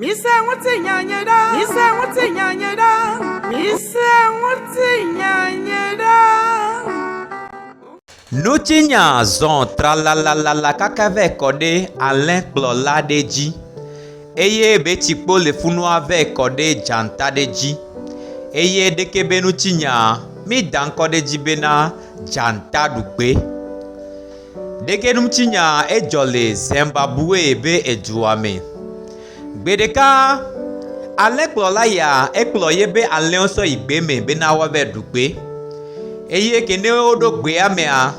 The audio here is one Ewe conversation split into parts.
Mise ŋutinya nye ɖa. Mise ŋutinya nye ɖa. Mise ŋutinya nye ɖa. Nutsinya zɔ tralalalala kaka vɛ kɔ ɖe alẽkplɔ la ɖe dzi, eye betsikpo le funua vɛ kɔ ɖe dzata ɖe dzi, eye ɖeke be nutsinya mi da ŋkɔ ɖe dzi bena dzata ɖugbe. Ɖekɛnumtsinya edzɔ le Zimbabwe be edua me. Gbe ɖeka, alẽkplɔla ya ekplɔ yeƒe alẽwo sɔ yi gbe me bena woava ɖu gbe eye ke ne woɖo gbea mea,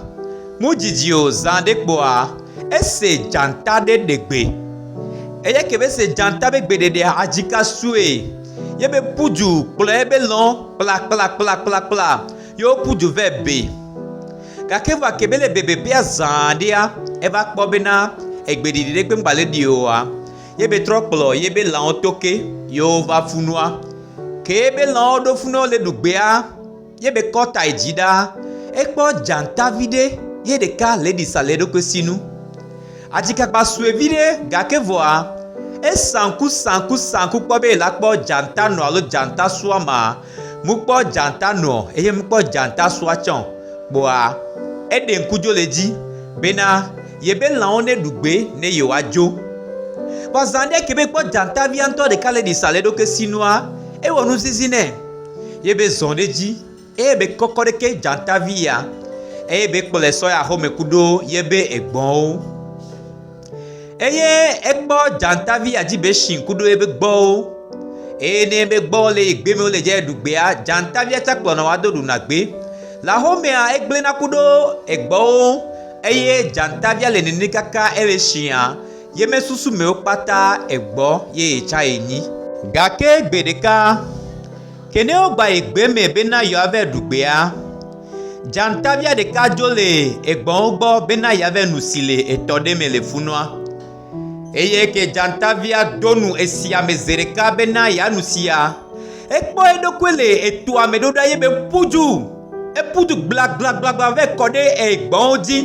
medzidzi o zã ɖe kpɔa, ese dzata ɖe ɖe gbe. Eya ke be ese dzata be gbeɖeɖea, adzika sue ye be ƒu du kplɔ ebe lɔ̃ kplakplakplakplakpla. Ye woku du vɛ be. Gake vɔ ake be le bebebea zã ɖea, eva kpɔ bena egbeɖiɖi ɖe kpe ŋgbale ɖi oa, ye be trɔ kplɔ ye be lãwo to ke ye wova fu nua. Ke ye be lãwo ɖo fu ne wole ɖu gbea, ye be kɔ ta yi dzi ɖa, ekpɔ dzata vi ɖe ye ɖeka le ɖi sa le eɖokui si nu. Atikakpa sue vi ɖe, gake vɔa, esa ŋku sa ŋku sa ŋku kpɔ be yela kpɔ dzata nɔ alo dzata sua ma. Mu kpɔ djanta nuɔ eye mu kpɔ djanta sua tsɛɔ, kpoa eɖe ŋku djo le dji bena yebe lãwo ne ɖu gbe ne yewoa djo. Vɔ zã ɖe ke be kpɔ djanta via ŋtɔ ɖeka le ɖi sa le eɖokui si nua, ewɔ nu zizi nɛ. Yebe zɔ̃ ɖe dji eye be kɔkɔ ɖe ke djanta vi ya, eye be kplɔe sɔ yi axome kuɖo yebe egbɔnwo. Eye ekpɔ dzatavi adzibatsi kudo eƒe gbɔwo eye ne eƒe gbɔwo le yi gbe me wole dze ɖu gbea dzatavia tsa kplɔna wo ado ɖuna gbe. Le axomea egblẽna ku ɖe egbɔwo ŋu eye dzatavia le nene kaka ele shia ye mesusu me wo kpata egbɔ ye tsa ye nyi. Gake gbeɖeka. Ke ne wogba yi gbe me bena yewoava ɖu gbea, dzatavia ɖeka dzo le egbɔ̃wo gbɔ bena yeava nu si le etɔ ɖe me le funua. Eye ke dzatavia do nu esia me zi ɖeka bena yeanu sia, ekpɔ eɖokui le etoa me ɖo ɖa eye be ƒu du. Eƒu du gblagblagblagblã vɛ kɔ ɖe egbɔ̃wo dzi.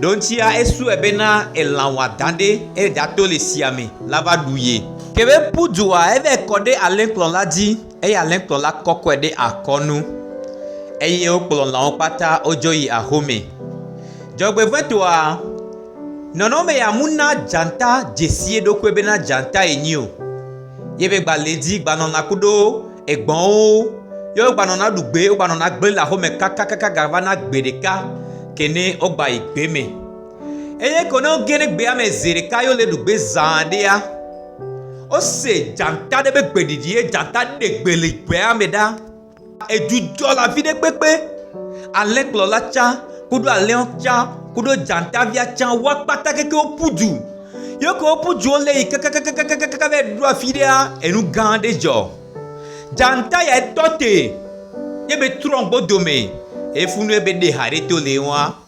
Ɖo ŋtsia esue be na elã wɔadã ɖe eye ɖato le sia me la va ɖu ye. Ke be ƒu dua, evae kɔ ɖe alẽkplɔ la dzi, eye alẽkplɔ la kɔkɔe ɖe akɔ nu, eye wokplɔ lãwo kpata wodzo yi axome. Dzɔgbevɔ̃etɔa, nɔnɔme ya mu na dzata dzesi eɖokui be na dzata yenyi o. Ye be gba le dzi gba nɔna kuɖo egbɔnwo. Ye wo gba nɔna ɖu gbe, wo gba nɔna gble le aƒeme kakakaka ga va na gbe ɖeka ke ne wo gba yi gbe me. Eye ko ne wo ge ɖe gbea me zi ɖeka ye wo le ɖu gbe zã ɖea, wo se dzata ɖe be gbe ɖiɖi ye dzata ɖe gbe le gbea me ɖa. Edzudzɔ la viɖe kpekpe ale kplɔla tsã kuɖo alẽɔ tsã kuɖo dzatavia tsã wa kpata keke wo ƒu du. Yeke wo ƒu du wo le yi kakakakakaka va yi ɖo afi ɖea, enu gã ɖe dzɔ. Dzata ya tɔ te ye be trɔ gbɔ dome efunu ye be ɖe ha ɖe to le ŋua.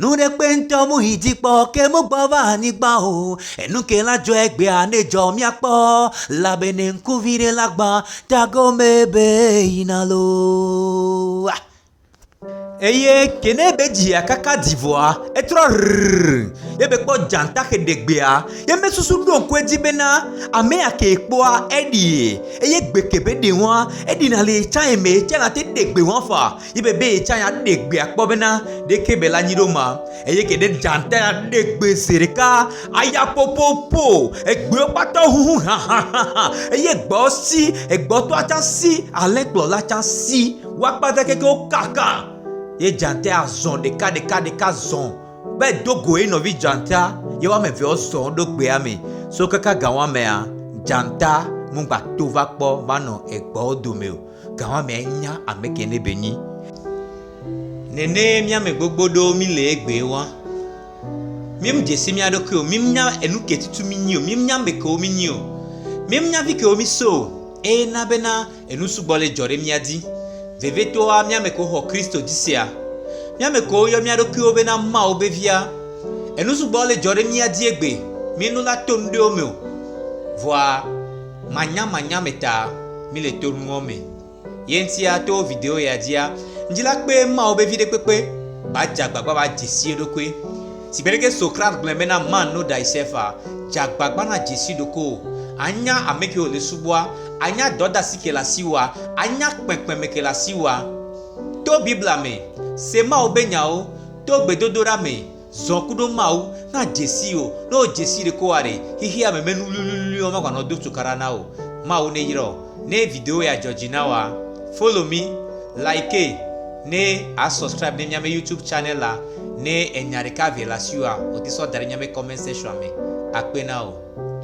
Nuɖekpe ŋtɔ mu yi dzi kpɔ ke mu gbɔ va anyigba o, enu ke la dzɔe gbea ne dzɔ mia kpɔ, labene ŋku viɖe la gba ta gome be yina loo. Eye ke ne be dzia kaka dzi vɔa, etrɔ rrrr, ye be kpɔ dzãta xe ɖe gbea, ye me susu ɖo ŋku edzi bena, amea kee kpɔa eɖie, eye gbe ke be ɖe wɔa, eɖina le ye tsãe me ye tsã nate ɖe gbe wɔa fa, Yi be be yetsã ya ɖe gbe akpɔ bena ɖeke be la nyi ɖo ma. Eye ke ɖe dzanta ya ɖe gbe se ɖeka aya popopo. Egbewo kpata ʋuʋu hãhãhãhã. Eye gbewo si, egbɔtɔa tsã si, alẽkplɔla tsã si. Wo akpata keke wokaka. Ye dzanta ya zɔ̃ ɖekaɖekaɖeka zɔ̃ be do go ye nɔvi dzanta. Ye woame eve wozɔ ɖo gbea me. So kaka gawãmea, dzanta mugbato va kpɔ va nɔ egbewo dome o. Gawamea nya ameke ne be nyi. Nene miame gbogbo ɖo mi le egbee wa. Mim dzesi mia ɖokui o, mim nya enu ke tutu mi nyi o, mim nya ameke wo mi nyi o, mim nya vi ke wo mi so o, eye na bena enu sugbɔ le dzɔ ɖe mia di. Vevetoa miame ke wo xɔ Kristo di sia. Miame ke wo yɔ mia ɖokui wo bena Mawu be via. Enu sugbɔ le dzɔ ɖe mia di egbe, mi nu la to nu ɖe wo me o. Vɔa. Manyamanya me ta mile tonuɔ me yeŋtia to video ya dzia ŋdzila kpe mawo be viɖe kpekpe ba dza gbagba ba dzesi eɖokui si gbeɖeke so Kraft gblɔe be na man no thyself a dza gbagba na dzesi ɖokowo anya amekewo le subɔa anya dɔdasi ke le asiwoa anya kpekpeme ke le asiwoa to bibla me se mawo be nyawo to gbedodoɖa me Zɔ kuɖo Mawu, na dzesii o, ne wo dzesii ɖeko wa ɖe, xixia me mɛ nuwliwliwli wo magba nɔ do cukaɖa na wo. Mawu ne yrɔ o. Ne video ya dzɔ dzi na woa, follow mi, like ne a subscribe ne miame YouTube channel la, ne enya ɖeka vɛ le asiwoa, o te sɔ daɖe miame comment section me. Akpe na o.